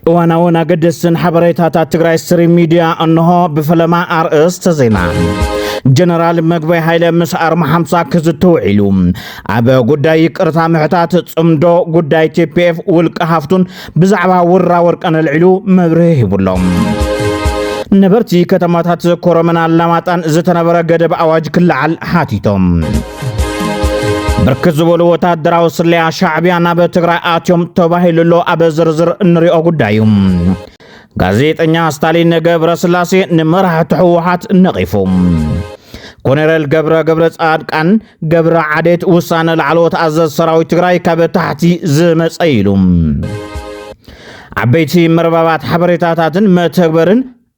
እዋናውን ኣገደስትን ሓበሬታታት ትግራይ ስትሪም ሚድያ እንሆ ብፈለማ ኣርእስተ ዜና ጀነራል መግበይ ሃይለ ምስ ኣርማ ሓምሳ ክዝቲ ውዒሉ ኣብ ጉዳይ ይቅርታ ምሕታት ፅምዶ ጉዳይ ቲፒኤፍ ውልቀ ሃፍቱን ብዛዕባ ውራ ወርቀ ነልዒሉ መብርሂ ሂቡሎም ነበርቲ ከተማታት ኮረመን ኣላማጣን ዝተነበረ ገደብ ኣዋጅ ክለዓል ሓቲቶም ብርክት ዝበሉ ወታደራዊ ስለያ ሻዕብያ ናብ ትግራይ ኣትዮም ተባሂሉ ኣሎ ኣብ ዝርዝር እንሪኦ ጉዳይ እዩ ጋዜጠኛ ስታሊን ገብረ ስላሴ ንመራሕቲ ህወሓት ነቒፉ ኮነረል ገብረ ገብረ ጻድቃን ገብረ ዓዴት ውሳነ ላዕለዎት ኣዘዝ ሰራዊት ትግራይ ካብ ታሕቲ ዝመፀ ኢሉ ዓበይቲ መርበባት ሓበሬታታትን መተግበርን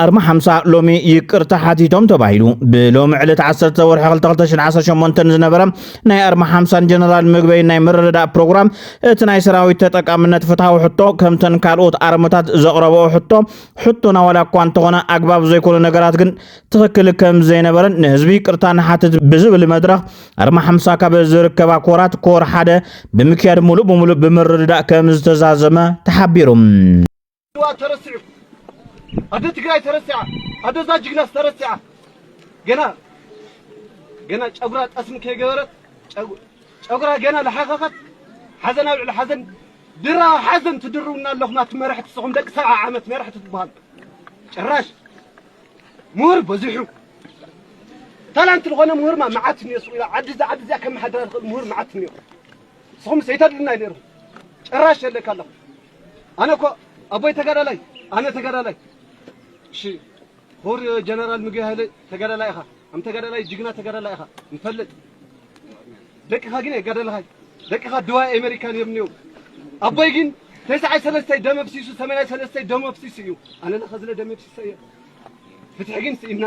ኣርማ ሓምሳ ሎሚ ይቅርታ ሓቲቶም ተባሂሉ ብሎሚ ዕለት 10 ወርሒ 2218 ዝነበረ ናይ ኣርማ ሓምሳን ጀነራል ምግበይ ናይ ምርድዳእ ፕሮግራም እቲ ናይ ሰራዊት ተጠቃምነት ፍትሐዊ ሕቶ ከምተን ካልኦት ኣርምታት ዘቕረበኦ ሕቶ ሕቶና ዋላ እኳ እንተኾነ ኣግባብ ዘይኮነ ነገራት ግን ትኽክል ከም ዘይነበረን ንህዝቢ ይቅርታ ንሓትት ብዝብል መድረኽ ኣርማ ሓምሳ ካብ ዝርከባ ኮራት ኮር ሓደ ብምክያድ ሙሉእ ብምሉእ ብምርድዳእ ከም ዝተዛዘመ ተሓቢሩ። ኣድዋ ተረሲዑ ኣደ ትግራይ ተረሲዓ ኣደ እዛ ጅግናስ ተረሲዓ ገና ገና ጨጉራ ጠስሚ ከይገበረት ጨጉራ ገና ልሓኸኸት ሓዘን ኣብ ልዕሊ ሓዘን ድራ ሓዘን ትድርውና ኣለኹም ኣቲ መራሕቲ ንስኹም ደቂ ሰብዓ ዓመት መራሕቲ ትበሃሉ ጭራሽ ምሁር በዚሑ ታላንት ዝኾነ ምሁርማ መዓት እኒኦ ሱቕ ኢላ ዓዲ እዛ ዓዲ እዚኣ ከመሓድራ ዝኽእል ምሁር መዓት እኒኦ ንስኹም ሰይተድልና እዩ ነይርኩም ጭራሽ የለካ ኣለኹም ኣነ እኮ ኣቦይ ተጋዳላይ ኣነ ተጋዳላይ እሺ ኹቡር ጀነራል ምግበይ ሃይለ ተጋዳላይ ኢኻ ኣም ተጋዳላይ ጅግና ተጋዳላይ ኢኻ ንፈልጥ ደቅኻ ግን ኣይጋደልኻይ ደቅኻ ድዋይ ኣሜሪካን እዮም እኒኦም ኣቦይ ግን ተስዓይ ሰለስተይ ደም ኣፍሲሱ ሰመናይ ሰለስተይ ደሙ ኣፍሲሱ እዩ ኣነ ናኸዝለ ደም ኣፍሲሰ እየ ፍትሒ ግን ስኢንና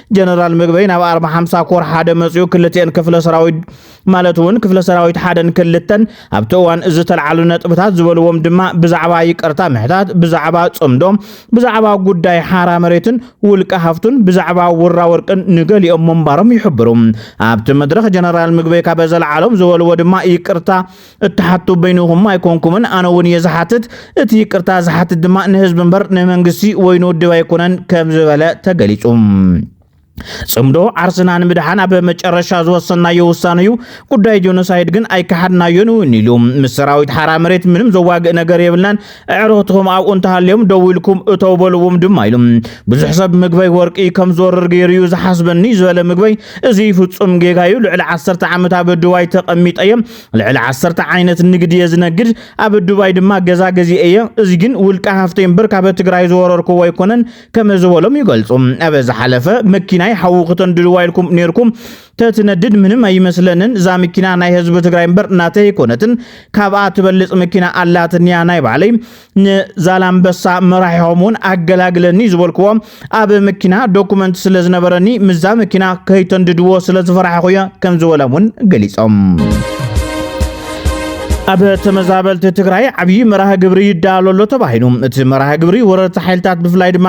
ጀነራል ምግበይ ናብ ኣርባ ሓምሳ ኮር ሓደ መፅኡ ክልትኤን ክፍለ ሰራዊት ማለት እውን ክፍለ ሰራዊት ሓደን ክልተን ኣብቲ እዋን እዚ ተልዓሉ ነጥብታት ዝበልዎም ድማ ብዛዕባ ይቅርታ ምሕታት ብዛዕባ ፅምዶ ብዛዕባ ጉዳይ ሓራ መሬትን ውልቀ ሃፍቱን ብዛዕባ ውራ ወርቅን ንገሊኦም ምንባሮም ይሕብሩ ኣብቲ መድረክ ጀነራል ምግበይ ካበ ዘልዓሎም ዝበልዎ ድማ ይቅርታ እትሓቱ በይንኹም ኣይኮንኩምን፣ ኣነ እውን እየ ዝሓትት፣ እቲ ይቅርታ ዝሓትት ድማ ንህዝቢ እምበር ንመንግስቲ ወይ ንውድብ ኣይኮነን ከም ዝበለ ተገሊጹ። ጽምዶ ዓርስና ንምድሓን ኣብ መጨረሻ ዝወሰናዮ ውሳነ እዩ። ጉዳይ ጆኖሳይድ ግን ኣይከሓድናዮን እውን ኢሉ ምስ ሰራዊት ሓራ መሬት ምንም ዘዋግእ ነገር የብልናን፣ ኣዕሩኽትኹም ኣብኡ እንተሃልዮም ደው ኢልኩም እተው በልዎም ድማ ኢሉ። ብዙሕ ሰብ ምግበይ ወርቂ ከም ዝወርር ገይሩ እዩ ዝሓስበኒ ዝበለ ምግበይ፣ እዚ ፍጹም ጌጋ እዩ። ልዕሊ ዓሰርተ ዓመት ኣብ ድዋይ ተቐሚጠ እየ። ልዕሊ ዓሰርተ ዓይነት ንግድ እየ ዝነግድ ኣብ ዱባይ ድማ ገዛ ገዚአ እየ እዚ ግን ውልቀ ሃፍተይ እምበር ካብ ትግራይ ዝወረርክዎ ኣይኮነን ከመ ዝበሎም ይገልፁ ኣብ ዝሓለፈ መኪናይ ሓዊ ክተንድድዋ ኢልኩም ነርኩም ተትነድድ ምንም ኣይመስለንን እዛ መኪና ናይ ህዝቢ ትግራይ እምበር ናተይ ኣይኮነትን ካብኣ ትበልፅ መኪና ኣላትንያ ናይ ባዕለይ ንዛላምበሳ መራሒሆም እውን ኣገላግለኒ ዝበልክዎ ኣብ መኪና ዶኩመንት ስለ ዝነበረኒ ምዛ መኪና ከይተንድድዎ ስለ ዝፈራሕኹ እየ ከም ዝበሎም እውን ገሊፆም ኣብ ተመዛበልቲ ትግራይ ዓብዪ መርሃ ግብሪ ይዳሎ ኣሎ ተባሂሉ እቲ መርሃ ግብሪ ወረርቲ ሓይልታት ብፍላይ ድማ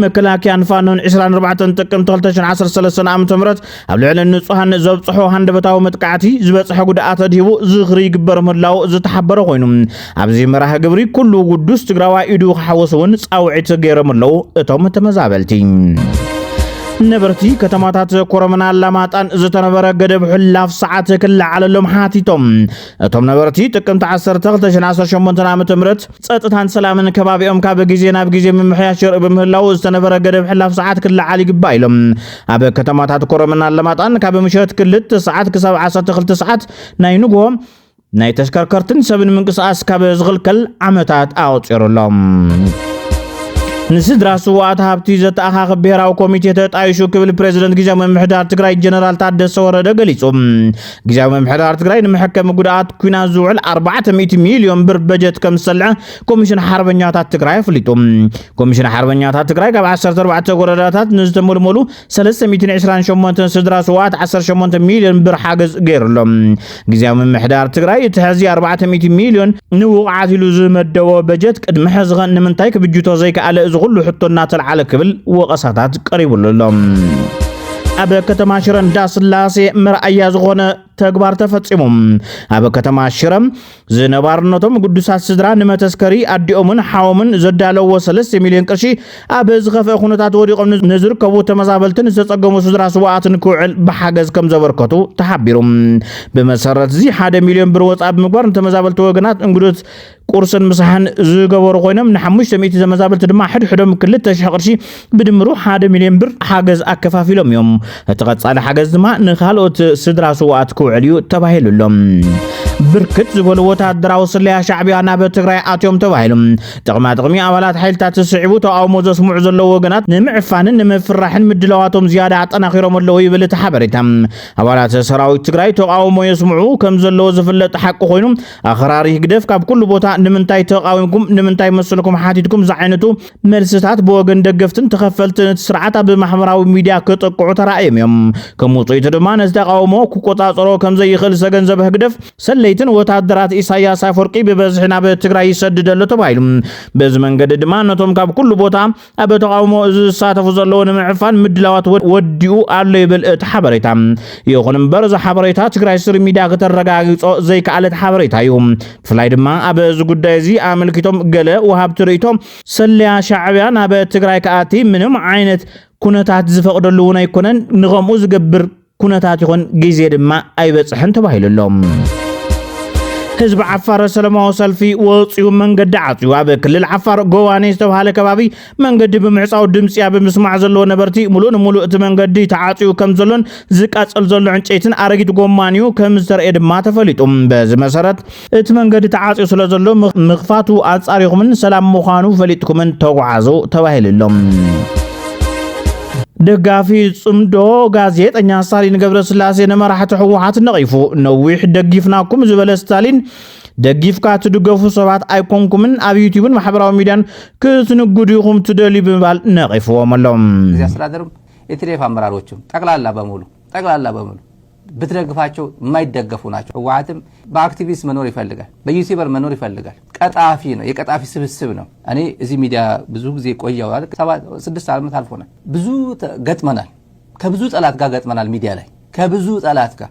መከላከያን ፋኖን 24 ጥቅምቲ 2013 ዓ ም ኣብ ልዕሊ ንጹሃን ዘብጽሖ ሃንደበታዊ መጥቃዕቲ ዝበጽሐ ጉድኣት ኣድሂቡ ዝኽሪ ይግበር ምህላው ዝተሓበረ ኮይኑ ኣብዚ መርሃ ግብሪ ኩሉ ውዱስ ትግራዋይ ኢዱ ክሓወስ እውን ጻውዒት ገይሮም ኣለዉ እቶም ተመዛበልቲ ነበርቲ ከተማታት ኮረምና ኣላማጣን ዝተነበረ ገደብ ሕላፍ ሰዓት ክለዓለሎም ሓቲቶም እቶም ነበርቲ ጥቅምቲ 1218 ዓ ም ፀጥታን ሰላምን ከባቢኦም ካብ ግዜ ናብ ግዜ ምምሕያሽ የርኢ ብምህላው ዝተነበረ ገደብ ሕላፍ ሰዓት ክለዓል ይግባእ ኢሎም ኣብ ከተማታት ኮረምን ኣለማጣን ካብ ምሸት ክልተ ሰዓት ክሳብ ዓሰርተ ክልተ ሰዓት ናይ ንግሆ ናይ ተሽከርከርትን ሰብን ምንቅስቓስ ካብ ዝኽልከል ዓመታት ኣቑፂሩ ኣሎ። ንስድራ ስዋኣት ሃብቲ ዘተኣኻኽብ ብሄራዊ ኮሚቴ ተጣይሹ ክብል ፕሬዚደንት ግዜያዊ ምምሕዳር ትግራይ ጀነራል ታደሰ ወረደ ገሊጹ። ግዜያዊ ምምሕዳር ትግራይ ንመሐከሚ ጉድኣት ኩናት ዝውዕል 400 ሚሊዮን ብር በጀት ከም ዝሰልዐ ኮሚሽን ሓርበኛታት ትግራይ ኣፍሊጡ። ኮሚሽን ሓርበኛታት ትግራይ ካብ 14 ወረዳታት ንዝተመልመሉ 328 ስድራ ስዋት 18 ሚልዮን ብር ሓገዝ ገይሩሎም ግዜያዊ ምምሕዳር ትግራይ እቲ ሕዚ 400 ሚልዮን ንውቕዓት ኢሉ ዝመደቦ በጀት ቅድሚ ሕዝኸ ንምንታይ ክብጅቶ ዘይከኣለ እዚ ኩሉ ሕቶ እናተልዓለ ክብል ወቐሳታት ቀሪቡሉ ኣሎ ኣብ ከተማ ሽረ እንዳስላሴ መርኣያ ዝኾነ ተግባር ተፈፂሙ ኣብ ከተማ ሽረ ዝነባርነቶም ግዱሳት ስድራ ንመተስከሪ ኣዲኦምን ሓዎምን ዘዳለዎ ሰለስተ ሚልዮን ቅርሺ ኣብ ዝኸፍአ ኩነታት ወዲቖም ንዝርከቡ ተመዛበልትን ዝተጸገሙ ስድራ ስዋኣትን ክውዕል ብሓገዝ ከም ዘበርከቱ ተሓቢሩ። ብመሰረት እዚ ሓደ ሚልዮን ብር ወጻኢ ብምግባር ንተመዛበልቲ ወገናት እንግዶት ቁርስን ምሳሕን ዝገበሩ ኮይኖም ንሓሙሽተ ሚእቲ ተመዛበልቲ ድማ ሕድሕዶም ክልተ ሽሕ ቅርሺ ብድምሩ ሓደ ሚልዮን ብር ሓገዝ ኣከፋፊሎም እዮም። እቲ ቀጻሊ ሓገዝ ድማ ንካልኦት ስድራ ስዋኣት ክውዕል እዩ ተባሂሉ ኣሎ። ብርክት ዝበሉ ወታደራዊ ስለያ ሻዕቢያ ናብ ትግራይ ኣትዮም ተባሂሉ ጥቕማ ጥቕሚ ኣባላት ሓይልታት ስዒቡ ተቃውሞ ዘስምዑ ዘለዉ ወገናት ንምዕፋንን ንምፍራሕን ምድላዋቶም ዝያዳ ኣጠናኺሮም ኣለዉ ይብል እቲ ሓበሬታ። ኣባላት ሰራዊት ትግራይ ተቃውሞ የስምዑ ከም ዘለዎ ዝፍለጥ ሓቂ ኮይኑ ኣኽራሪ ህግደፍ ካብ ኩሉ ቦታ ንምንታይ ተቃዊምኩም ንምንታይ መሰልኩም ሓቲትኩም ዝዓይነቱ መልስታት ብወገን ደገፍትን ተኸፈልትን እቲ ስርዓት ኣብ ማሕበራዊ ሚድያ ክጥቅዑ ተራእዮም እዮም። ከም ውፅኢቱ ድማ ነዚ ተቃውሞ ክቆፃፀሮ ከምዘይኽእል ዝተገንዘበ ህግደፍ ሰለይትን ወታደራት ኢሳያስ ኣፈወርቂ ብበዝሒ ናብ ትግራይ ይሰድድ ኣሎ ተባሂሉ። በዚ መንገዲ ድማ ነቶም ካብ ኩሉ ቦታ ኣብ ተቃውሞ እዚ ዝሳተፉ ዘለዎ ንምዕፋን ምድላዋት ወዲኡ ኣሎ ይብል እቲ ሓበሬታ። ይኹን እምበር እዚ ሓበሬታ ትግራይ ስሪ ሚድያ ክተረጋግፆ ዘይከኣለት ሓበሬታ እዩ። ብፍላይ ድማ ኣብ እዚ ጉዳይ እዚ ኣመልኪቶም ገለ ወሃብቲ ርእይቶ ሰለያ ሻዕብያ ናብ ትግራይ ክኣቲ ምንም ዓይነት ኩነታት ዝፈቕደሉ እውን ኣይኮነን፣ ንኸምኡ ዝገብር ኩነታት ይኹን ግዜ ድማ ኣይበፅሐን ተባሂሉ ኣሎ። ህዝቢ ዓፋር ሰለማዊ ሰልፊ ወፂኡ መንገዲ ዓፅዩ ኣብ ክልል ዓፋር ጎዋኔ ዝተብሃለ ከባቢ መንገዲ ብምዕጻው ድምጺያ ብምስማዕ ዘለዎ ነበርቲ ሙሉእ ንሙሉእ እቲ መንገዲ ተዓጽዩ ከም ዘሎን ዝቃጸል ዘሎ ዕንጨይትን ኣረጊት ጎማን እዩ ከም ዝተረእየ ድማ ተፈሊጡ። በዚ መሰረት እቲ መንገዲ ተዓጽዩ ስለ ዘሎ ምኽፋቱ ኣጻሪኹምን ሰላም ምዃኑ ፈሊጥኩምን ተጓዓዙ ተባሂሉ ኣሎ። ደጋፊ ጽምዶ ጋዜጠኛ ስታሊን ገብረስላሴ ንመራሕቲ ህወሓት ነቒፉ። ነዊሕ ደጊፍናኩም ዝበለ ስታሊን ደጊፍካ ትድገፉ ሰባት ኣይኮንኩምን ኣብ ዩቲብን ማሕበራዊ ሚድያን ክትንግዱ ኢኹም ትደልዩ ብምባል ነቒፍዎም ኣሎ። እዚ ኣስተዳደርም የትሌፍ ኣመራሮችም ጠቅላላ በሙሉ ጠቅላላ በሙሉ ብትደግፋቸው የማይደገፉ ናቸው። ህወሓትም በአክቲቪስት መኖር ይፈልጋል፣ በዩቲበር መኖር ይፈልጋል። ቀጣፊ ነው፣ የቀጣፊ ስብስብ ነው። እኔ እዚህ ሚዲያ ብዙ ጊዜ ቆየው ስድስት ዓመት አልፎናል። ብዙ ገጥመናል፣ ከብዙ ጠላት ጋር ገጥመናል። ሚዲያ ላይ ከብዙ ጠላት ጋር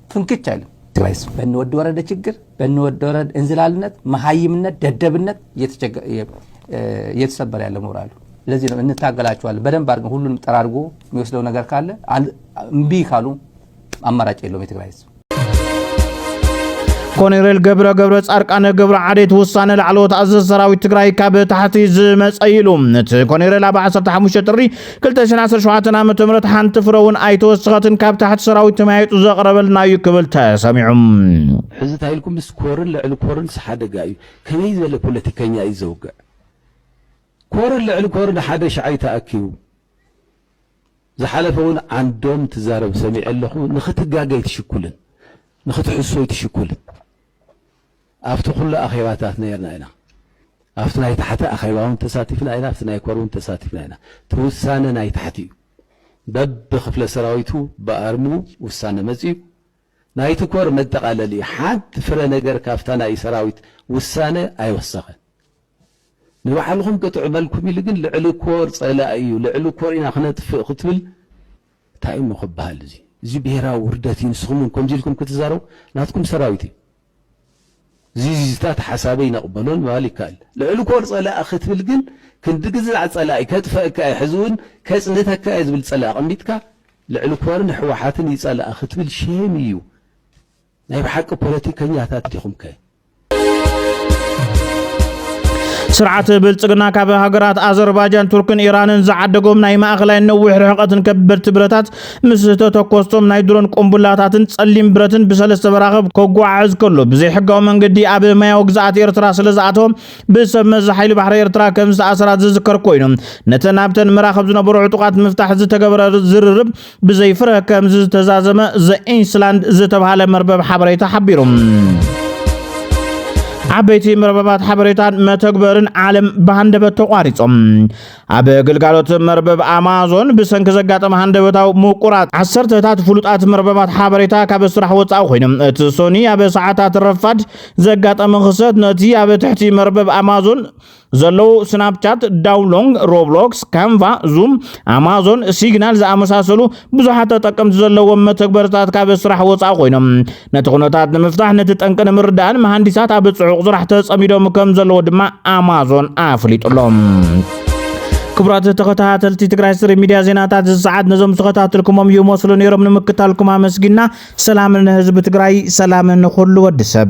ፍንክች ኣይልም። ትግራይስ በኒ ወዲ ወረደ ችግር፣ በኒ ወዲ ወረደ እንዝላልነት፣ መሃይምነት፣ ደደብነት እየተሰበረ ያለ ሞራሉ። ለዚህ ነው እንታገላቸዋለን። በደንብ አድርገን ሁሉንም ጠራርጎ የሚወስደው ነገር ካለ እምቢ ካሉ አማራጭ የለውም የትግራይ ህዝብ። ኮሎኔል ገብረ ገብረ ጻድቃን ገብረ ዓዴት ውሳነ ላዕለዎት ኣዘዝ ሰራዊት ትግራይ ካብ ታሕቲ ዝመፀ ኢሉ እቲ ኮሎኔል ኣብ 15 ጥሪ ክልተ ሽሕን ዓሰርተ ሸውዓተን ዓመተ ምህረት ሓንቲ ፍረ እውን ኣይተወሰኸትን ካብ ታሕቲ ሰራዊት ተመያይጡ ዘቕረበልና እዩ ክብል ተሰሚዑ። ሕዚ እንታይ ኢልኩም ምስ ኮርን ልዕሊ ኮርንስ ሓደጋ እዩ ከመይ ዝበለ ፖለቲከኛ እዩ ዘውግዕ ኮርን ልዕሊ ኮርን ሓደ ሽዓይ ተኣኪቡ ዝሓለፈ እውን ዓንዶም ትዛረብ ሰሚዐ ኣለኹ ንኽትጋገይ ትሽኩልን ንኽትሕሶይ ትሽኩልን ኣብቲ ኩሉ ኣኼባታት ነይርና ኢና። ኣብቲ ናይ ታሕቲ ኣኼባ እውን ተሳቲፍና ኢና፣ ኣብቲ ናይ ኮር እውን ተሳቲፍና ኢና። እቲ ውሳነ ናይ ታሕቲ እዩ። በብክፍለ ሰራዊቱ ብኣርሙ ውሳነ መጺኡ። ናይቲ ኮር መጠቓለሊ እዩ። ሓንቲ ፍረ ነገር ካብታ ናይ ሰራዊት ውሳነ ኣይወሰኸን። ንባዕልኹም ቅጥዑ በልኩም ኢሉ ግን ልዕሊ ኮር ጸላኢ እዩ፣ ልዕሊ ኮር ኢና ክነጥፍእ ክትብል ታይ እሞ ክባሃል እዚ እዚ ብሄራዊ ውርደት እዩ ንስኩም እውን ከምዚ ኢልኩም ክትዛረቡ ናትኩም ሰራዊት እዩ እዚዚዚታት ሓሳበይ ነቅበሎን ምባል ይካኣል ልዕሊ ኮር ፀላኢ ክትብል ግን ክንዲ ግዛዕ ፀላኢ ከጥፈእካ እየ ሕዚ እውን ከፅንተካ እየ ዝብል ፀላኢ ኣቀሚጥካ ልዕሊ ኮርን ሕዋሓትን እዩ ፀላኢ ክትብል ሼም እዩ ናይ ብሓቂ ፖለቲከኛታት ዲኹም ከ? ስርዓት ብልጽግና ካብ ሃገራት ኣዘርባጃን ቱርክን ኢራንን ዝዓደጎም ናይ ማእኸላይን ነዊሕ ርሕቐትን ከበድቲ ብረታት ምስ ተተኮስቶም ናይ ድሮን ቁምቡላታትን ጸሊም ብረትን ብሰለስተ መራኽብ ከጓዓዕዝ ከሎ ብዘይሕጋዊ መንገዲ ኣብ ማያዊ ግዝኣት ኤርትራ ስለ ዝኣተወ ብሰብ መዚ ሓይሊ ባሕሪ ኤርትራ ከም ዝተኣሰራ ዝዝከር ኮይኑ ነተን ኣብተን መራኽብ ዝነበሩ ዕጡቓት ንምፍታሕ ዝተገበረ ዝርርብ ብዘይ ፍረ ከምዚ ዝተዛዘመ ዘ ኢንስላንድ ዝተብሃለ መርበብ ሓበሬታ ሓቢሩ። ዓበይቲ መርበባት ሓበሬታን መተግበርን ዓለም ብሃንደበት ተቋሪጾም ኣብ ግልጋሎት መርበብ ኣማዞን ብሰንኪ ዘጋጠመ ሃንደበታዊ ምቁራጽ ዓሰርተታት ፍሉጣት መርበባት ሓበሬታ ካብ ስራሕ ወፃኢ ኮይኖም እቲ ሶኒ ኣብ ሰዓታት ረፋድ ዘጋጠመ ክሰት ነቲ ኣብ ትሕቲ መርበብ ኣማዞን ዘለዉ ስናፕቻት፣ ዳውሎንግ፣ ሮብሎክስ፣ ካንቫ፣ ዙም፣ ኣማዞን፣ ሲግናል ዝኣመሳሰሉ ብዙሓት ተጠቀምቲ ዘለዎም መተግበርታት ካብ ስራሕ ወፃ ኮይኖም ነቲ ኩነታት ንምፍታሕ ነቲ ጠንቂ ንምርዳእን መሃንዲሳት ኣብ ፅዑቕ ስራሕ ተፀሚዶም ከም ዘለዎ ድማ ኣማዞን ኣፍሊጡ ኣሎ። ክቡራት ተኸታተልቲ ትግራይ ስሪ ሚዲያ ዜናታት እዚ ሰዓት ነዞም ዝተኸታተልኩሞም ይመስሉ ነይሮም። ንምክታልኩም ኣመስጊና ሰላም ንህዝቢ ትግራይ፣ ሰላም ንኹሉ ወዲ ሰብ።